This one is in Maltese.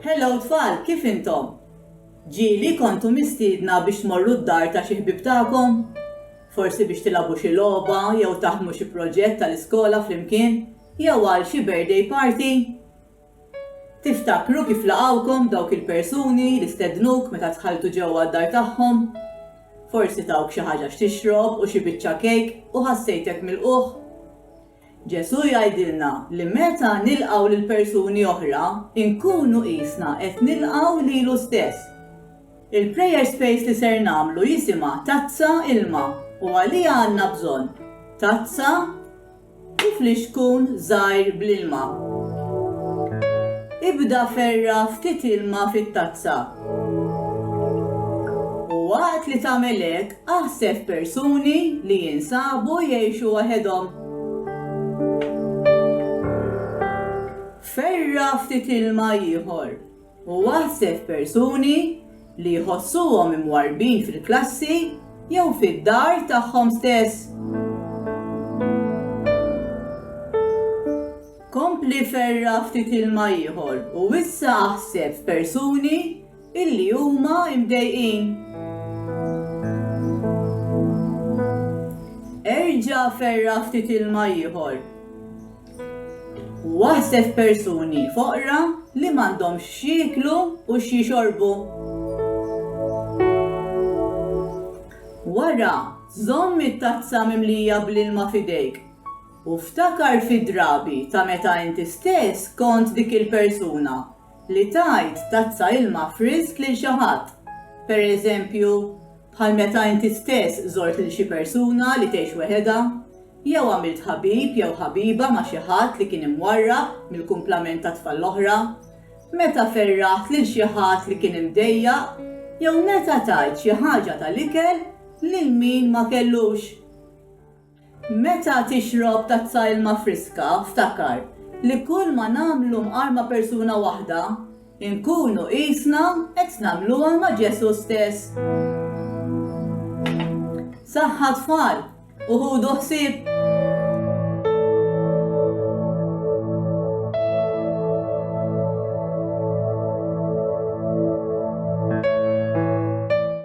Hello tfal, kif intom? Ġieli kontu mistiedna biex tmorru d-dar ta' xi ħbieb tagħkom? Forsi biex tilagħbu xi logħba jew taħdmu xi proġett tal-iskola flimkien jew għal xi birthday party? Tiftakru kif laqgħukom dawk il-persuni li stednuk meta dħaltu ġewwa d-dar tagħhom? Forsi tawk xi ħaġa x'tixrob u xi biċċa kejk u ħassejtek milqugħ. Ġesù jgħidilna li meta nilqgħu lil persuni oħra, inkunu qisna qed nilqgħu lilu stess. Il-prayer space li ser nagħmlu jisimha Tazza Ilma u għaliha għandna bżonn tazza u flixkun żgħir bl-ilma. Ibda ferra' ftit ilma fit-tazza u waqt li tagħmel hekk, Aħseb f'persuni li jinsabu jgħixu waħedhom. Ferra' ftit ilma ieħor u aħseb f'persuni li jħossuhom imwarrbin fil-klassi jew fid-dar tagħhom stess. Kompli ferra' ftit ilma ieħor u issa aħseb f'persuni illi huma mdejqin. Erġa' ferra' ftit ilma ieħor u aħseb f'persuni foqra li m'għandhomx x'jieklu u x'jixorbu. Wara, żomm it-tazza mimlija bl-ilma f'idejk u ftakar fid-drabi ta' meta inti stess kont dik il-persuna. li tgħid tazza ilma frisk lil xi ħadd, pereżempju, bħal meta inti stess żort lil xi persuna li tgħix weħedha, jew għamilt ħabib jew ħabiba ma' xi ħadd li kien imwarrab mill-kumplament tat-tfal l-oħra, meta ferraħt lil xi ħadd li kien imdejjaq, jew meta tajt xi ħaġa tal-ikel lil min ma kellux. Meta tixrob tazza ilma friska, ftakar li kulma nagħmlu mqar ma' persuna waħda, inkunu qisna qed nagħmluha ma' Ġesù stess. Saħħa tfal u ħudu ħsieb!